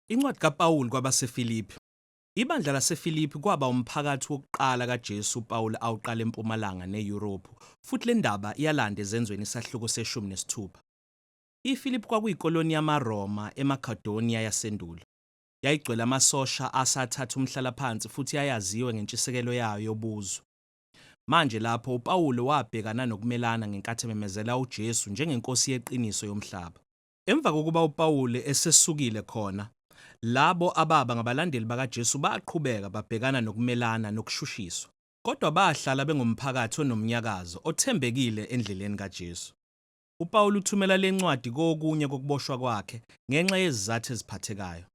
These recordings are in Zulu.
Incwadi kaPawulu kwabaseFilipi. Ibandla laseFilipi kwaba umphakathi wokuqala kaJesu uPawulu awuqala empumalanga neYurophu, futhi le ndaba iyalanda ezenzweni isahluko seshumi nesithupha. IFilipi kwakuyikoloni yamaRoma eMakedoniya yasendulo. Yayigcwele amasosha asathatha umhlalaphansi futhi yayaziwa ngentshisekelo yayo yobuzwe. Manje, lapho, uPawulu wabhekana nokumelana ngenkathi ememezela uJesu njengeNkosi yeqiniso yomhlaba. Emva kokuba uPawulu esesukile khona, labo ababa ngabalandeli bakaJesu baqhubeka babhekana nokumelana nokushushiswa. Kodwa bahlala bengumphakathi onomnyakazo, othembekile endleleni kaJesu. UPawulu uthumela lencwadi kokunye kokuboshwa kwakhe ngenxa yezizathu eziphathekayo.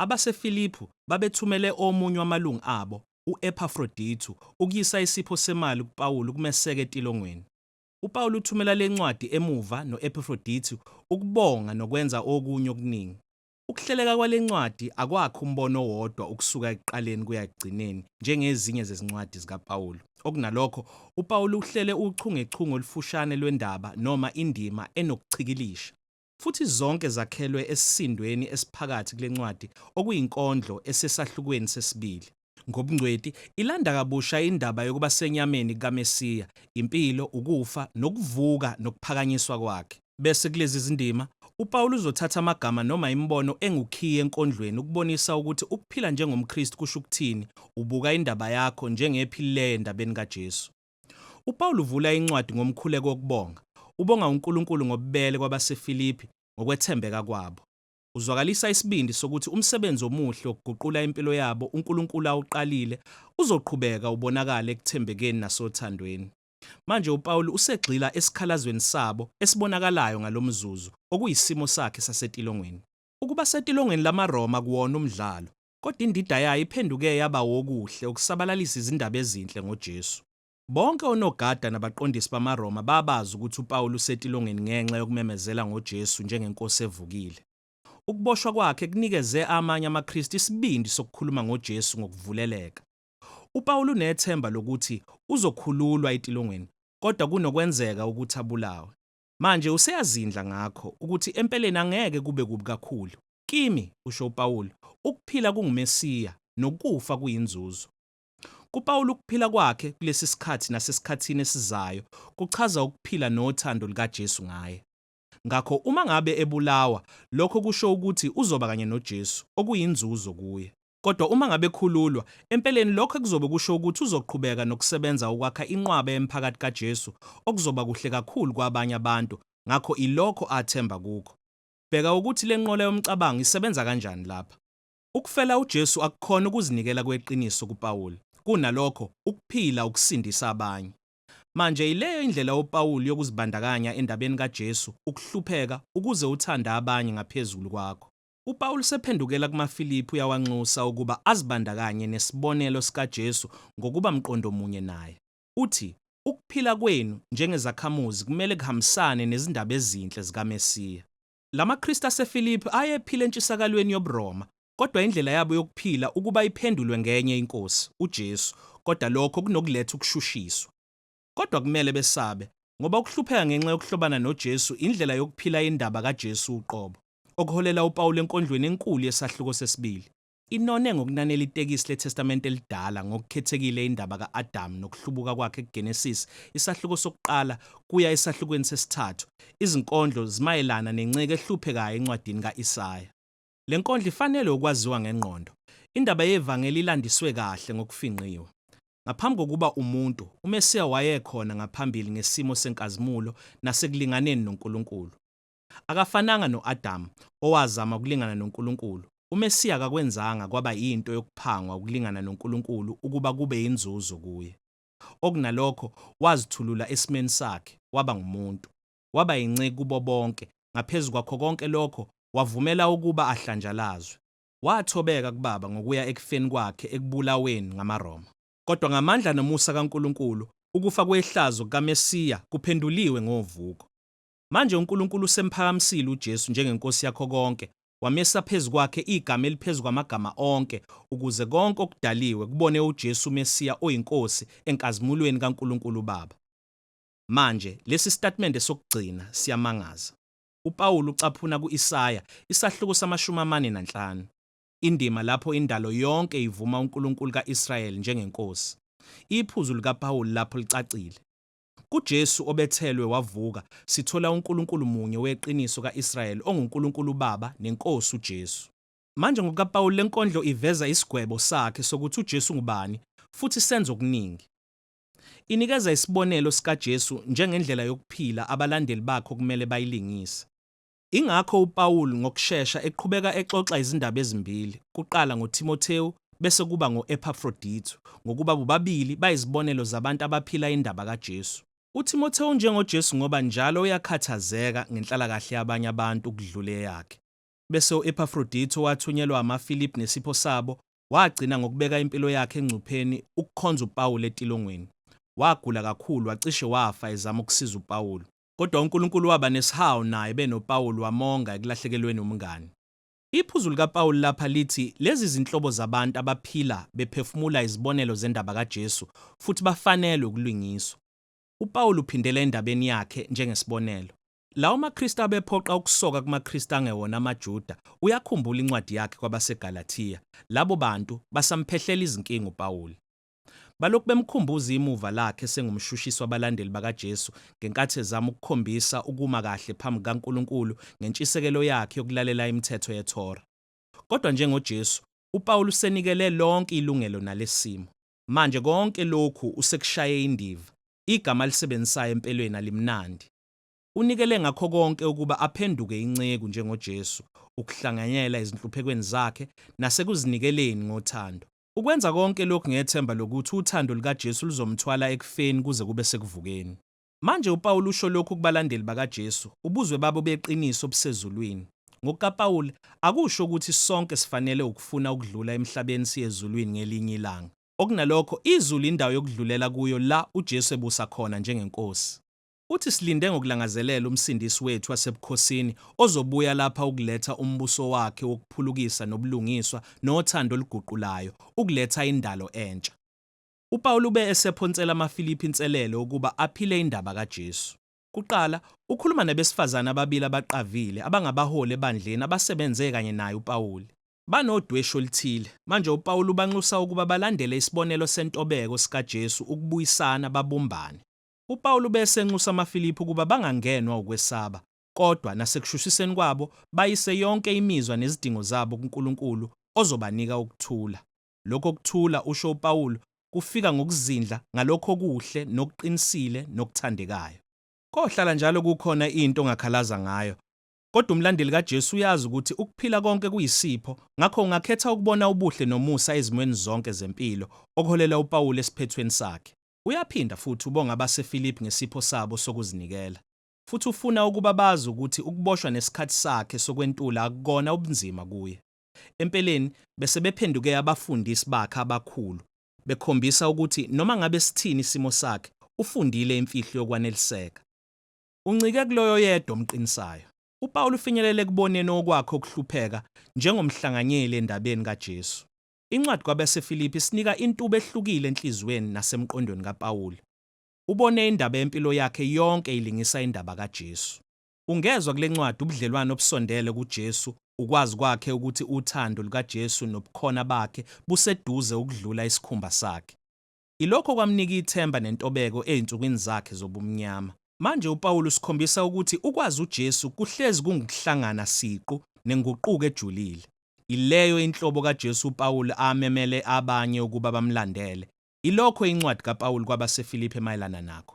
AbaseFiliphu babethumele omunye wamalungu abo, u-Ephafrodithu, ukuyisa isipho semali kuPawulu ukumeseka etilongweni. UPawulu uthumela le ncwadi emuva no-Ephafrodithu ukubonga nokwenza okunye okuningi. Ukuhleleka kwale ncwadi akwakhi umbono owodwa ukusuka ekuqaleni kuya ekugcineni njengezinye zezincwadi zikaPawulu. Okunalokho, uPawulu uhlele uchungechunge olufushane lwendaba noma indima enokuchikilisha. futhi zonke zakhelwe esisindweni esiphakathi kule ncwadi okuyinkondlo esesahlukweni sesibili. Ngobungcweti, ilanda kabusha indaba yokuba senyameni kaMesiya, impilo, ukufa, nokuvuka nokuphakanyiswa kwakhe. Bese kulezi zindima, uPawulu uzothatha amagama noma imibono engukhiye enkondlweni ukubonisa ukuthi ukuphila njengomKristu kusho ukuthini, ubuka indaba yakho njengephilileyo endabeni kaJesu. UPawulu uvula incwadi ngomkhuleko wokubonga, ubonga uNkulunkulu ngobubele kwabaseFilipi ngokwethembeka kwabo. Uzwakalisa isibindi sokuthi umsebenzi omuhle wokuguqula impilo yabo uNkulunkulu awuqalile uzoqhubeka ubonakale ekuthembekeni nasothandweni. Manje uPawulu usegxila esikhalazweni sabo esibonakalayo ngalomzuzu, okuyisimo sakhe sasetilongweni. Ukuba setilongweni lamaRoma akuwona umdlalo, kodwa indida yayo iphenduke yaba wokuhle ukusabalalisa izindaba ezinhle ngoJesu. Bonke onogada nabaqondisi bamaRoma babazi ukuthi uPawulu usetilongeni ngenxa yokumemezela ngoJesu njengeNkosi evukile. Ukuboshwa kwakhe kunikeze amanye amaKristu isibindi sokukhuluma ngoJesu ngokuvuleleka. UPawulu unethemba lokuthi uzokhululwa etilongweni, kodwa kunokwenzeka ukuthi abulawe. Manje useyazindla ngakho, ukuthi empeleni angeke kube kubi kakhulu. Kimi, kusho uPawulu, ukuphila kunguMesiya, nokufa kuyinzuzo. KuPawulu ukuphila kwakhe kulesi sikhathi nasesikhathini esizayo kuchaza ukuphila nothando lukaJesu ngaye. Ngakho uma ngabe ebulawa, lokho kusho ukuthi uzoba kanye noJesu, okuyinzuzo kuye. Kodwa uma ngabe ekhululwa, empeleni lokho ekuzobe kusho ukuthi uzoqhubeka nokusebenza ukwakha inqwaba yemiphakathi kaJesu, okuzoba kuhle kakhulu kwabanye abantu, ngakho ilokho athemba kukho. Bheka ukuthi le nqola yomcabango isebenza kanjani lapha. Ukufela uJesu akukhona ukuzinikela kweqiniso kuPawulu, kunalokho, ukuphila ukusindisa abanye. Manje, yileyo indlela uPawulu yokuzibandakanya endabeni kaJesu, ukuhlupheka ukuze uthande abanye ngaphezulu kwakho. UPawulu usephendukela kumaFilipi uyawanxusa ukuba azibandakanye nesibonelo sikaJesu ngokuba mqondo munye naye. Uthi, Ukuphila kwenu njengezakhamuzi kumele kuhambisane nezindaba ezinhle zikaMesiya. La maKristu aseFilipi ayephila entshisakalweni yobuRoma, kodwa indlela yabo yokuphila ukuba iphendulwe ngenye iNkosi, uJesu, kodwa lokho kunokuletha ukushushiswa. kodwa kumele besabe, ngoba ukuhlupheka ngenxa yokuhlobana noJesu indlela yokuphila indaba kaJesu uqobo, okuholela uPawulu enkondlweni enkulu yesahluko sesibili. Inone ngokunanela itekisi leTestamente Elidala ngokukhethekile indaba ka-Adamu nokuhlubuka kwakhe kuGenesisi isahluko sokuqala kuya esahlukweni sesithathu. Izinkondlo zimayelana nenceku ehluphekayo encwadini ka-Isaya. Le nkondlo ifanelwe ukwaziwa ngengqondo. Indaba yevangeli ilandiswe kahle ngokufingqiwe. Ngaphambi kokuba umuntu, uMesiya wayekhona ngaphambili ngesimo senkazimulo nasekulinganeni noNkulunkulu. Akafananga no-Adamu, owazama ukulingana noNkulunkulu. UMesiya akakwenzanga kwaba yinto yokuphangwa ukulingana noNkulunkulu ukuba kube yinzuzo kuye. Okunalokho, wazithulula esimeni sakhe, waba ngumuntu. waba yinceku kubo bonke, ngaphezu kwakho konke lokho, wavumela ukuba ahlanjalazwe. Wathobeka kuBaba ngokuya ekufeni kwakhe ekubulaweni ngamaRoma. Kodwa ngamandla nomusa kaNkulunkulu, ukufa kwehlazo kukaMesiya kuphenduliwe ngovuko. Manje uNkulunkulu usemphakamisile uJesu njengeNkosi yakho konke, wamisa phezu kwakhe igama eliphezu kwamagama onke, ukuze konke okudaliwe kubone uJesu uMesiya oyiNkosi enkazimulweni kaNkulunkulu uBaba. Manje, lesi sitatimende sokugcina siyamangaza. UPawulu ucaphuna ku-Isaya, isahluko samashumi amane nanhlanu, indima lapho indalo yonke ivuma uNkulunkulu ka-Israyeli njengeNkosi. Iphuzu likaPawulu lapho licacile. KuJesu obethelwe wavuka, sithola uNkulunkulu munye weqiniso ka-Israyeli onguNkulunkulu uBaba neNkosi uJesu. Manje, ngokukaPawulu, lenkondlo iveza isigwebo sakhe sokuthi uJesu ngubani, futhi senza okuningi. Inikeza isibonelo sikaJesu njengendlela yokuphila abalandeli bakhe okumele bayilingise. Ingakho uPawulu ngokushesha eqhubeka exoxa izindaba ezimbili, kuqala ngoThimothewu bese kuba ngo-Ephafrodithu, ngokuba bobabili bayizibonelo zabantu abaphila indaba kaJesu. UThimothewu unjengoJesu ngoba njalo uyakhathazeka ngenhlalakahle yabanye abantu ukudlula eyakhe. Bese u-Ephafrodithu owathunyelwa amaFiliphi nesipho sabo, Wagcina ngokubeka impilo yakhe engcupheni ukukhonza uPawulu etilongweni. Wagula kakhulu, wacishe wafa ezama ukusiza uPawulu. Kodwa uNkulunkulu waba nesihawu naye benoPawulu wamonga ekulahlekelweni umngani. Iphuzu likaPawulu lapha lithi lezi zinhlobo zabantu abaphila bephefumula izibonelo zendaba kaJesu futhi bafanelwe ukulungiswa. UPawulu uphindela endabeni yakhe njengesibonelo. Lawo maKristu abephoqa ukusoka kumaKristu angewona amaJuda, uyakhumbula incwadi yakhe kwabaseGalathiya, labo bantu basamphehlela izinkinga uPawuli. Balokhu bemkhumbuza imuva lakhe esengumshushisi wabalandeli bakaJesu ngenkathi ezama ukukhombisa ukuma kahle phambi kukaNkulunkulu ngentshisekelo yakhe yokulalela imithetho yeThora. Kodwa njengoJesu, uPawuli usenikele lonke ilungelo nalesimo. Manje konke lokhu usekushaye indiva. Igama alisebenzisayo empelweni alimnandi. Unikele ngakho konke ukuba aphenduke inceku njengoJesu, ukuhlanganyela ezinhluphekweni zakhe nasekuzinikeleni ngothando. Ukwenza konke lokhu ngethemba lokuthi uthando lukaJesu luzomthwala ekufeni kuze kube sekuvukeni. Manje uPawulu usho lokhu kubalandeli bakaJesu, ubuzwe babo beqiniso obusezulwini. NgokukaPawulu, akusho ukuthi sonke sifanele wukufuna ukudlula emhlabeni siye ezulwini ngelinye ilanga. Okunalokho, izulu indawo yokudlulela kuyo la uJesu ebusa khona njengeNkosi. Uthi, Silinde ngokulangazelela uMsindisi wethu wasebukhosini ozobuya lapha ukuletha uMbuso wakhe wokuphulukisa nobulungiswa nothando oluguqulayo, ukuletha indalo entsha. UPawulu ube esephonsela amaFilipi inselelo ukuba aphile indaba kaJesu. Kuqala, ukhuluma nabesifazane ababili abaqavile abangabaholi ebandleni abasebenze kanye naye uPawuli. Banodweshu oluthile. Manje uPawulu ubanxusa ukuba balandele isibonelo sentobeko sikaJesu ukubuyisana babumbane. UPawulu ubese enxusa amaFilipi ukuba bangangenwa ukwesaba, kodwa nasekushushiseni kwabo bayise yonke imizwa nezidingo zabo kuNkulunkulu ozobanika ukuthula. Lokho kuthula, usho uPawulu, kufika ngokuzindla ngalokho okuhle nokuqinisile nokuthandekayo. Kohlala njalo kukhona into ongakhalaza ngayo. Kodwa umlandeli kaJesu uyazi ukuthi ukuphila konke kuyisipho, ngakho ungakhetha ukubona ubuhle nomusa ezimweni zonke zempilo, okuholela uPawulu esiphethweni sakhe. Uyaphinda futhi ubonga abaseFilipi ngesipho sabo sokuzinikela, futhi ufuna ukuba bazi ukuthi ukuboshwa nesikhathi sakhe sokwentula akukona ubunzima kuye. Empeleni, besebephenduke abafundisi bakhe abakhulu, bekhombisa ukuthi noma ngabe sithini isimo sakhe, ufundile imfihlo yokwaneliseka. Uncike kuloyo oyedwa omqinisayo. UPawulu ufinyelele ekuboneni okwakhe ukuhlupheka njengomhlanganyeli endabeni kaJesu. Incwadi kwabaseFilipi isinika intuba ehlukile enhliziyweni nasemqondweni kaPawulu. Ubone indaba yempilo yakhe yonke ilingisa indaba kaJesu. Ungezwa kule ncwadi ubudlelwane obusondele kuJesu, ukwazi kwakhe ukuthi uthando lukaJesu nobukhona bakhe buseduze ukudlula isikhumba sakhe. Ilokho okwamnika ithemba nentobeko ezinsukwini zakhe zobumnyama. Manje uPawulu usikhombisa ukuthi ukwazi uJesu kuhlezi kungukuhlangana siqu nenguquko ejulile. Ileyo inhlobo kaJesu uPawulu amemele abanye ukuba bamlandele. Ilokho incwadi kaPawulu kwabaseFilipi emayelana nakho.